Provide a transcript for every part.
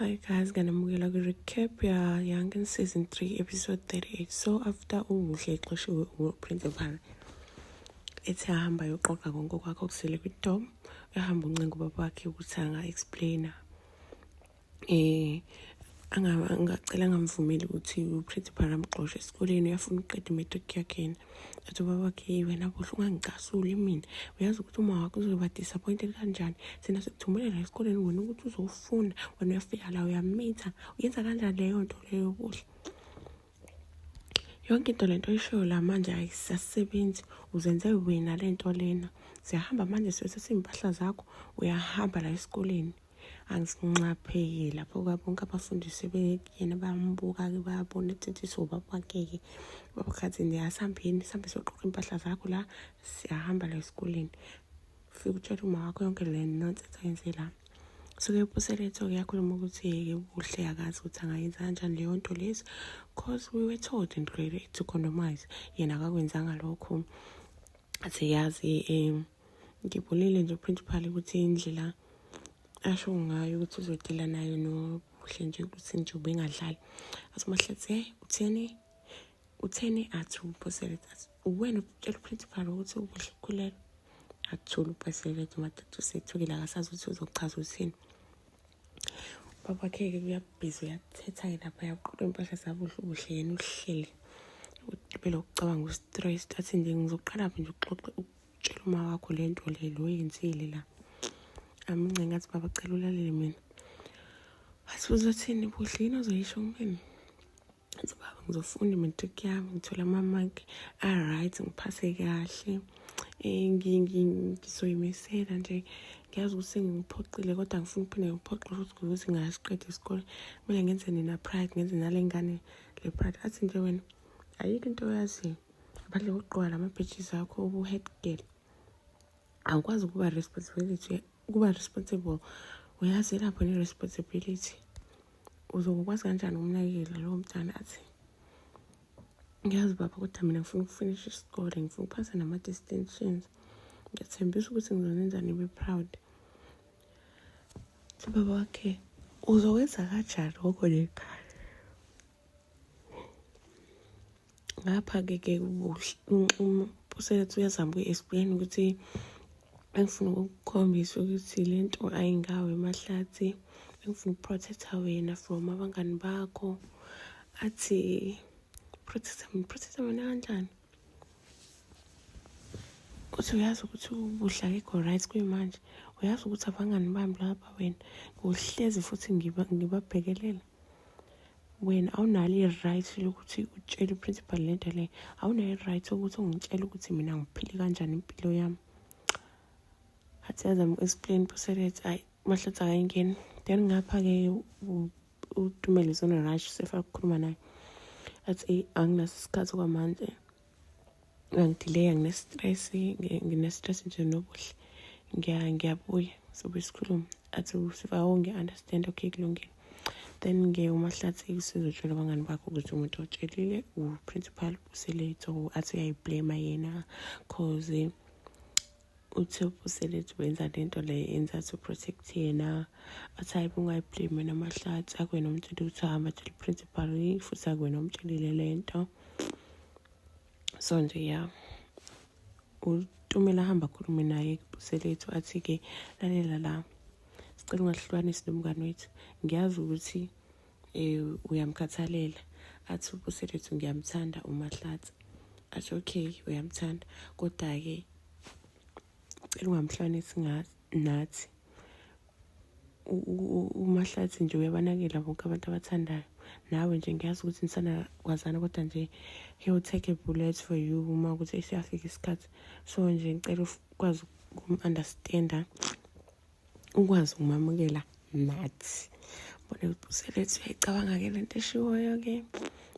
Hi guys, nganamukela kwi-recap ya Young Season 3 episode 38. So after uMuhle exoshiwe uprincipal ethi ahamba yoqoqa konke okwakhe okusele kwi-dom, ehamba uncenga ubaba wakhe ukuthi anga-explaina um eh, angacela angamvumeli ukuthi uPretty Phara amgxoshe esikoleni uyafuna ukuqeda i-matric yakhe yena athi ubaba wakhe yi wena bohle ungangicasuli mina uyazi ukuthi uma wakho uzoba disappointed kanjani sina sikuthumelela esikoleni wena ukuthi uzofuna wena uyafika la uyamitha uyenza kanjani leyo nto leyo bohle yonke into lento oyishoyo la manje ayisasebenzi uzenze wena lento lena siyahamba manje sesesimpahla zakho uyahamba la esikoleni angisinxapheki lapho kwabonke abafundisi bekuyena bayambuka-ke bayabona ukuthi sobaba wakeke baba khathi nje asihambeni sihambe soqoqa impahla zakho la siyahamba la esikoleni fike utshela uma wakho yonke le nonsense ayenze la suke ubuseletho kuyakhuluma ukuthi yeke ubuhle akazi ukuthi angayenza kanjani leyo nto lezi cause we were told and really to condomize yena akakwenzanga lokho athi yazi um ngibulile nje uprincipal ukuthi indlela asho ngayo ukuthi uzodela nayo nobuhle nje ukuthi nje ubengadlali athi umahlathi hey utheni utheni athi uphosele athi uwena utshela uprincipal ukuthi ubuhle ukhulelwe akuthula uphosele athi umatata usethukile akasazuthi uzochaza uthini babakhe-ke kuyabhizi uyathetha-ke lapha yaqoqa impahla zabuhle ubuhle yena uhleli ubela ukucabanga ustress athi nje ngizoqala phi nje uxoxe tshela uma wakho le nto le lo yenzile la amince ngathi baba cela ulalele mina wathi uzothini budlini ozoyisho kumina athi baba ngizofunda i-matric yami ngithola ama-mark a-right ngiphase kahle eh, ngizoyimesela nje ngiyazi ukuthi ngingiphoxile kodwa ngifuna ukuphinde ngiphoxe futhi ukuthi ngingasiqedi isikole kumele ngenze nina pride ngenze nale ngane le pride athi nje wena ayikho into oyaziyo ngaphandle kokugqoka la ma-badges akho ubu-head girl awukwazi ukuba responsibility ukuba responsible uyazi lapho ne-responsibility uzokwazi kanjani ukunakekela lowo mntana athi ngiyazi baba kodwa mina ngifuna ukufinisha isikole ngifuna ukuphasa nama-distinctions ngiyathembisa ukuthi ngizonenza nibe proud baba wakhe uzokwenza kanjani ngoko lekhaya ngapha-ke ke ubuselethu uyazama ukuyi-explain ukuthi engifuna ukukukhombisa ukuthi le nto ayingawe emahlathi engifuna ukuprotectha wena from abangani bakho athi protectha mina protectha mina kanjani uthi uyazi ukuthi ubudla kekho right kuyimanje uyazi ukuthi abangani bami laba wena ngohlezi futhi ngibabhekelela ngiba wena awunalo i-right lokuthi utshele uprincipal le nto le awunayo i-right ukuthi ungitshele ukuthi mina ngiphile kanjani impilo yami athi yazama uku-explain buselet ayi mahlathi akayingeni then ngapha-ke utumele zona-rush sefa kukhuluma naye athi anginaso isikhathi kwamanje angidileya ngine-stress ngine-stress nje nobuhle ngiyabuya sobe sikhulume athi sivawo ngiya-understand okay kulungile then ke umahlathi sizotshela abangani bakho ukuthi umuntu otshelile u-principal uselate or athi uyayiblema yena cause uthi ubuselethu wenza le nto le yenza to protect yena athi hayi bungayiblame namahlathi akwena umtsheli ukuthi hamba tshela i-principal futhi akwena umtshelile le nto so nje ya utumela ahamba akhulume naye kubuselethu athi-ke lalela la sicela ungahlukanisi nomngane wethu ngiyazi ukuthi eh uyamkhathalela athi ubuselethu ngiyamthanda umahlathi athi okay uyamthanda kodwa-ke cela ungamhlwanisi nathi umahlathi nje uyabanakela bonke abantu abathandayo nawe nje ngiyazi ukuthi nisana kwazana kodwa nje he'll take a bullet for you uma ukuthi esiyafika isikhathi so nje ngicela ukwazi ukum-understanda ukwazi ukumamukela nathi bona ukuthi uselethu uyayicabanga ke le nto eshiwoyo ke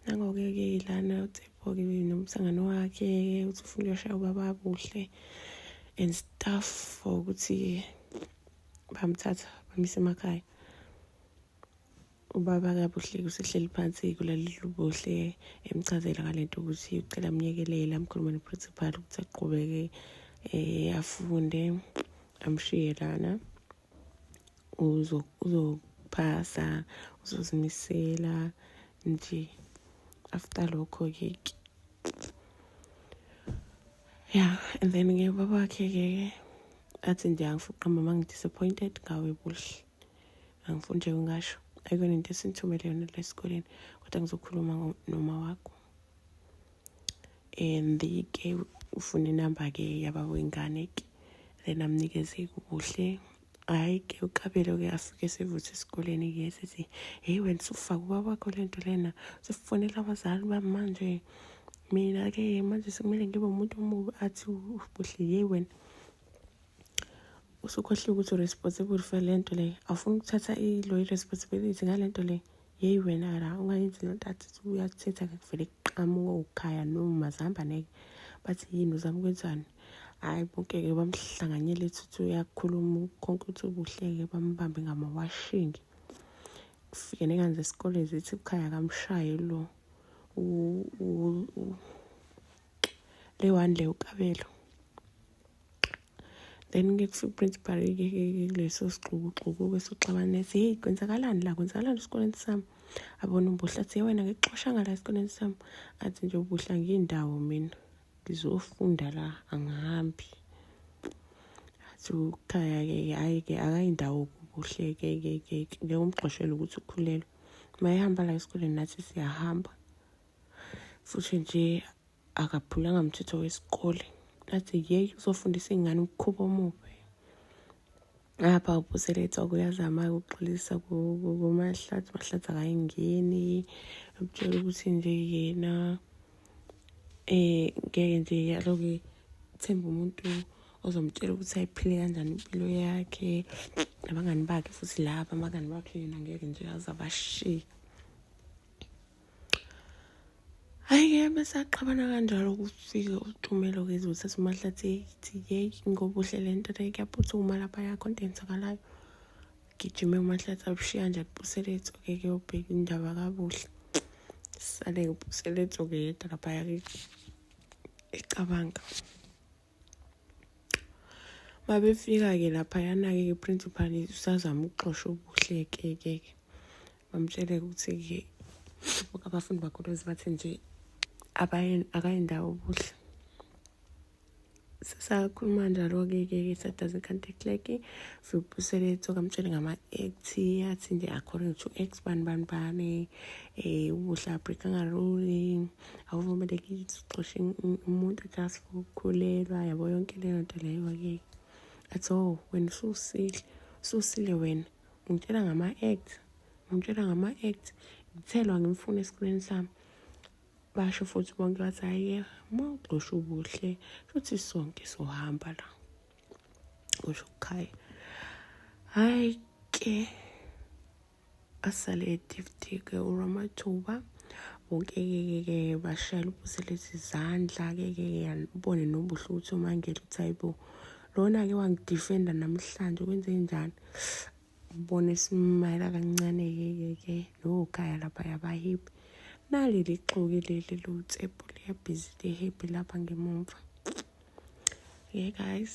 nangoke ke ilana uthepho-ke nomsangano wakhe uthi ufuna uyoshaya ubaba kuhle and stuff for ukuthi bamthatha bamisa emakhaya ubaba kabuhle kusehleli phansi kulaleli ubuhle emchazela ngale nto ukuthi ucela amnyekelele amkhulume neprincipal ukuthi aqhubeke um afunde amshiye lana uzophasa uzozimisela nje after lokho-ke ya and then-ke ubaba wakhe-ke athi nje angifuqamba ma ngi-disappointed ngawe buhle angifuni nje ungasho ayikona into esinithumele yona la esikoleni kodwa ngizokhuluma noma wakho and ke ufuna inamba ke yababa wengane ke then amnikeze kuhle hhayi ke uqabelo ke afike sevuthe esikoleni ke sithi heyi wena usufake ubaba wakho le nto lena usufonela abazali bami manje mina-ke manje sekumele ngibe umuntu omubi athi ubuhle yeyi wena usukhohliwe ukuthi u-responsible for le nto le awufuni ukuthatha iloyi responsibility ngale nto le yeyi wena la ungayenzi le nto athi uyakuthetha kuvele kuqamuke ukhaya noma zihamba neke bathi yini uzama ukwenzani hhayi bonkeke bamhlanganyele thuthi uyakhuluma konke ukuthi ubuhleke bambambe ngamawashingi kufike nekanze esikoleni zithi ukhaya kamshaye lo le one le ukabelo then ke kusuprincipal leso sixukuxuku ke soxabana ethi heyi kwenzakalani la kwenzakalani esikoleni sami abona ubuhle athi ye wena ngikuxoshanga la esikoleni sami athi nje ubuhle ngiyindawo mina ngizofunda la angihambi athi ukhaya-ke hhayi-ke akayindawo kubuhle-ke ke ke ngeke umgxoshele ukuthi ukhulelwe uma ehamba la esikoleni nathi siyahamba futhi nje akaphulanga mthetho wesikole athi yeyi uzofundisa iy'ngane ukukhuba omubi apha ubuseletha kuyazama-ke ukuxolisa kumahlathi mahlathi akayingeni ukutshela ukuthi nje yena um ngeke nje yaloke themba umuntu ozomtshela ukuthi ayiphile kanjani impilo yakhe nabangani bakhe futhi laba abangani bakhe yena ngeke nje aze abashiye Hhayi-ke bese axabana kanjalo kufike uTumelo kezwe uthatha uMahlathi ethi yeyi ngoba uhle le nto le kuyaphuthuma lapha yakho into eyenzakalayo. Gijime uMahlathi abushiya nje abuselethu-ke kuyobheka indaba kabuhle. Sale-ke ubuselethu-ke yedwa laphaya-ke ecabanga. babefika-ke laphayana-ke ke principal usazama ukuxosha ubuhleke-ke ke bamtshele ukuthi-ke abafundi bakhuluzi bathi nje akayindawo ubuhle sakhuluma njalo-ke ke ke sadaze i-contact like sibusele tsoka mtshele ngama-act athi nje according to act bani bani bani um ubuhle abreakangaloli awuvumelekile ukuxosha umuntu just for ukukhulelwa yabo yonke leyo nto leyo ke at all wena ususile ususile wena ungitshela ngama-act ungitshela ngama-act ngithelwa ngimfuna esikoleni sami basho futhi bonke bathi hhayi uma ugxosha ubuhle futhi sonke sohamba la kusho ukhaya hhayi ke asale edifitike uramathuba wonke-ke-ke bashayela ubuselezi izandla-ke-ke yanibone nobuhle ukuthi umangele ukuthi hayibo lona-ke wangidifenda namhlanje kwenze njani ubone simayela kancane-ke-ke nokhaya lapha yabahipi naleli xoki leli lotsephu liyabhizi lihepi lapha ngemumva yeah guys